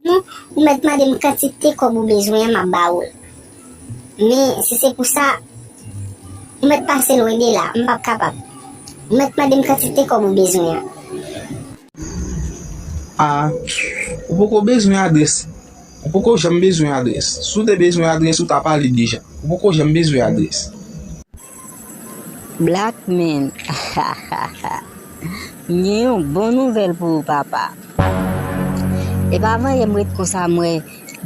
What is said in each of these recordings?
Sinon, ou mèt mande m kantite kòb ou bezwen an m ap ba ou l. Men, si se pou sa, ou mèt pase lwen de la, m p ap kapab. Ou mèt mande m kantite kòb ou bezwen an. A, Ou poko bezwen adrès. Ou poko janm bezwen adrès. Si w te bezwen adrès, ou ta pale deja. Ou poko janm bezwen adrès. Black man hahaha m gen yon bon nouvel pou ou papa. Epa vanyem ret konsa m wè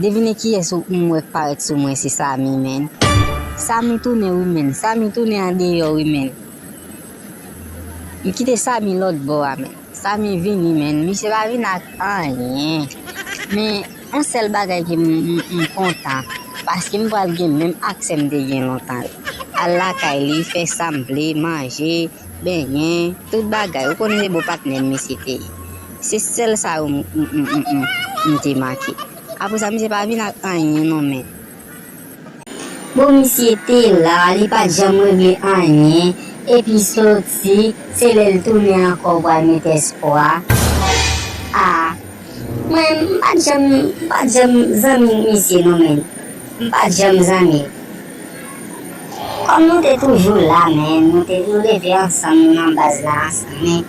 devine kiyes ou m wè k paret sou mwen se Samy menn Samy tounen wi menn Samy tounen andeyo wi menn m kite Samy lotbo a menn. Samy vini menn misye pa vin ak anyen men yon sèl bagay ke m kontan paske m pral gen menm aksè m te gen lontan yo al lakay li fè sam vle manje benyen tout bagay ou konn se bon patnè m misye te ye se sèl sa yo m te manke apresa misye pa vin ak anyen non menn. Bon misye te la li pat janm regle anyen epi soti se lel tounen ankò ou pral met espwa ah mwen m pat janm m pat janm zanmi misye non menn m pat janm zanmi l kòm nou te toujou la menn nou te nou leve ansanm nou nan baz la ansanm men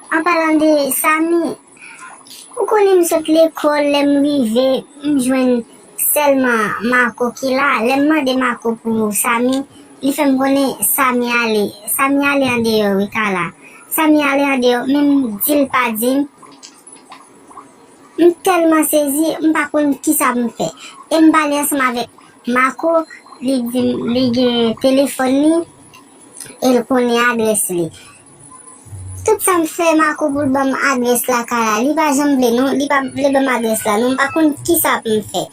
An palan de Samy, ou konnen m sot lekòl lè m rive m jwenn sèlman Marco ki la, lè m mande Marco pou Samy li fè m konnen Samy ale, Samy ale andeyò wi Carla, Samy ale andeyò men m di l pa di m, m tèlman sezi m pa konn kisa pou m fè e m pale ansanm avèk Marco li di m li gen telefòn li e l konnen adrès li Tout sa m fè Marco pou l banm adrès lakay la li pa janm vle non li pa vle banm adrès la non m pa konn kisa pou m fè.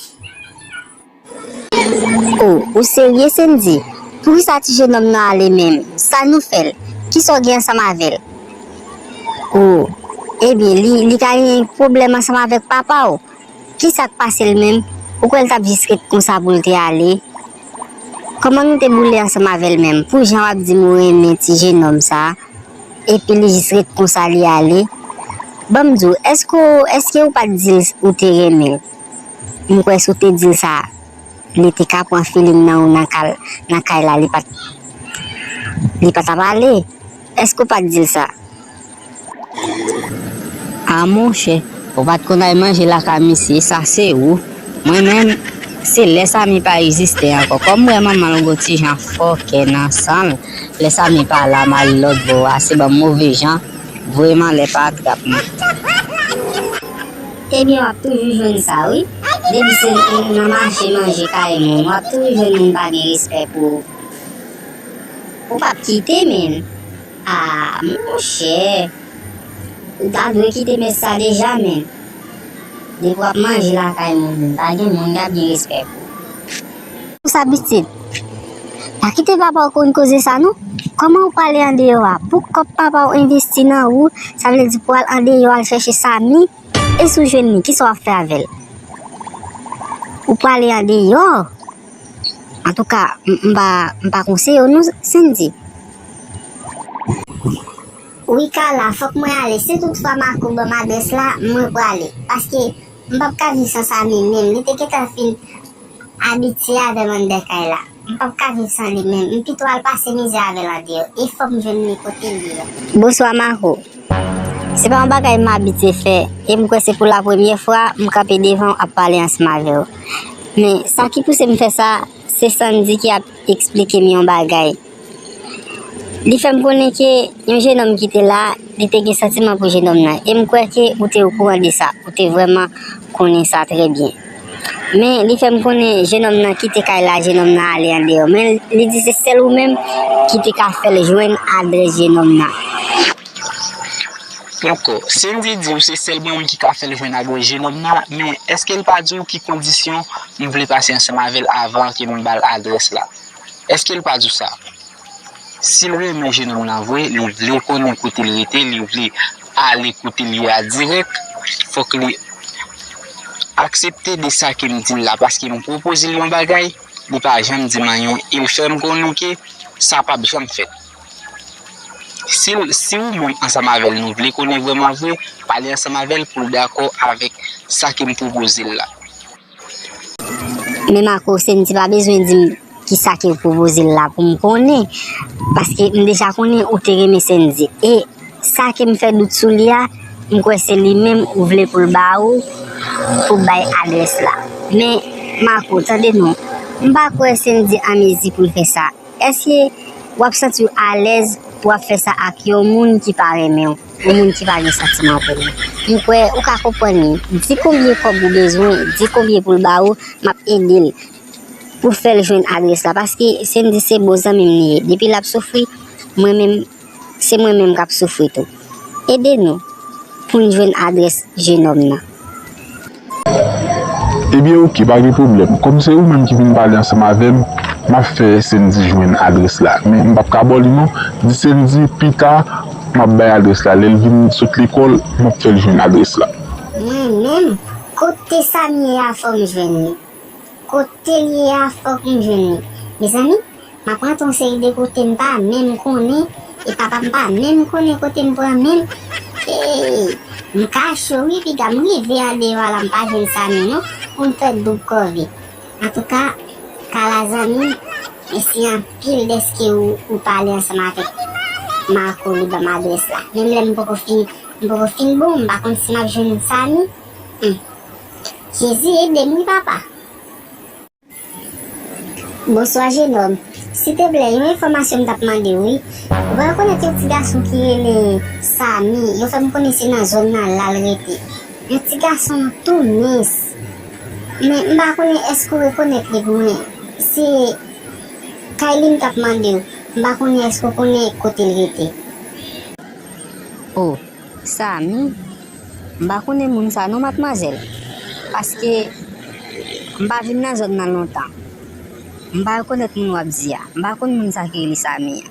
Oh ou serye Sendy? Poukisa ti jenòm nan ale menm? Sa nou fè l? Kisa w gen ansanm avè l? Oh ebyen li ka gen pwoblèm ansanm avèk papa w? Kisa k pase l menm? Ou kwè l t ap jis ret konsa pou l te ale? Koman nou te boule ansanm avèl menm pou jan wap dim ou renmen ti jenòm sa epi li jis ret konsa li ale banm diw èske ou èske ou pat dil ou te renmenl m kwè si w te dil sa li te ka pran filing nan ou nan kal nan kay la li pat li patap ale èske ou pat dil sa. A monchè, ou pat konn al manje lakay misye, sa se ou. Mwen menm, se lè Samy pa egziste ankò. Kòm m wè manman l gon ti jan fòkè nan san l, lè Samy pa la m ale lòtbò a, se banm move jan, voye m anlè pa atrap mwen. Ebyen w ap toujou jwenn sa wi. Depi se nan mache manje kay moun, w ap toujou jwenn moun pa gen respè pou ou. Ou pap kite menn. Aah monchè ou ta dwe kite mès sa deja menn depi wap manje lakay moun pa gen moun kap gen respè pou ou. Pou sa pitit. Pa kite papaw konn koze sa non. Koman ou pale andeyo a pou kob papaw envesti nan ou sa vle di pou al andeyo al chèche Samy e si ou jwenn li kisa wap fè avèl ou pale andeyo. Antouka m pa konsiye w non Sendy. Wi Carla fòk mwen ale si tout fwa Marco banm adrès la mwen prale paske m pap ka viv san Samy menm li te gentan fin abitye avèm anndan kay la m pap ka viv san li menm m pito al pase mizè avèl andeyò e fòm jwenn li kote li a. Bonswa Marco Se pa yon bagay m abitye fè e m kwè se pou la premye fwa m kanpe devan w ap pale ansanm avè w. Men, sa ki pouse m fè sa, se Sandy ki ap esplike m yon bagay. Li fè m konnen ke yon jenòm ki te la, li te gen santiman pou jenòm nan. E m kwè ke ou te okouran de sa. Ou te vrèman konnen sa trè byen. Men, li fè m konnen jenòm nan kite kay la, jenòm nan ale andeyò. Men, li di se sèl ou menm ki te ka fè l jwenn adrès jenòm nan. Poko. Cindy diw se sèl mwen menm ki ka fèl jwenn ak yon jenòm nan, men èske l pa diw ki kondisyon m vle pase ansanm avèl avan ke m bal adrès la? Èske l pa diw sa? Sil renmen jenòm nan vre, li vle konnen kote l rete, li vle ale kote l ye a dirèk, fòk li aksepte de sa ke m dil la paske m pwopoze l yon bagay, li pa janm dim anyen e l fèm konnen ke sa pap janm fèt. Si ou menm ansanm avè l nou vle konnen vrèman vre, pale ansanm avè l pou l dakò avèk sa ke m pwopoze l la. Menm ak ou, Sendy pa bezwen di m kisa ke w pwopoze l la pou m konnen, paske m deja konnen ou te renmen Sendy. E sa ke m fè dout sou li a, m kwè se li menm ou vle pou l ba ou, pou w bay adrès la. Men, Marco, tande non, m pa kwè Sendy anmezi pou l fè sa. Èske w ap santi w alèz pou w ap fè sa ak yon moun ki pa renmen w, yon moun ki pa gen santiman pou ou? M kwè ou ka konprann li. Di konbyen kòb ou bezwen, di konbyen pou l ba ou, m ap ede l pou w fè l jwenn adrès la. Paske Sendy se bon zanmi m li ye. Depi l ap soufri, mwen menm. se mwen menm kap soufri tou ede nou poun jwenn adrès jenòm nan. Ebyen ok pa gen pwoblèm kòm se ou menm ki vin pale ansanm avèm map fè Sendy jwenn adrès la men mpap ka baw li non di Sendy pita map bay adrès la lèl vin sot lekòl map fèl jwenn adrès la. Mwen menm kote Samie a fòm jwenn li. Kotel ye a fok m jwenn li. Mezanmi map rantre yon seri de kote m pa menm konnen e papa m pa menm konnen kote m pran menm eeyy m ka cho wi piga m rive a deyò a la m pa jwenn Samy non pou m fè doub kòve antouka Kala zanmi m mèsi anpil dèske ou pale ansanm avèk Marco li banm adrès la menm lè m poko fin m poko fin bon m pa konn si map jwenn Samy humm. Jezi edem wi papa. Bonswa jenòm, si te ple yon enfòmasyon m tap mandew wi, ou pa rekonèt yon ti gason ki rele Samy yo fèm konnen se nan zòn nan lal rete yon ti gason tou mins men m pa konnen èske ou rekonèt li pou mwen se Kay li m tap mandew m pa konnen èske ou konnen kotel rete. Oh Samy, M pa konnen moun sa non matmwazèl, paske m pa vin nan zòn nan lontan. M pa rekonèt moun w ap di a. M pa konn moun sa ki rele Samy an.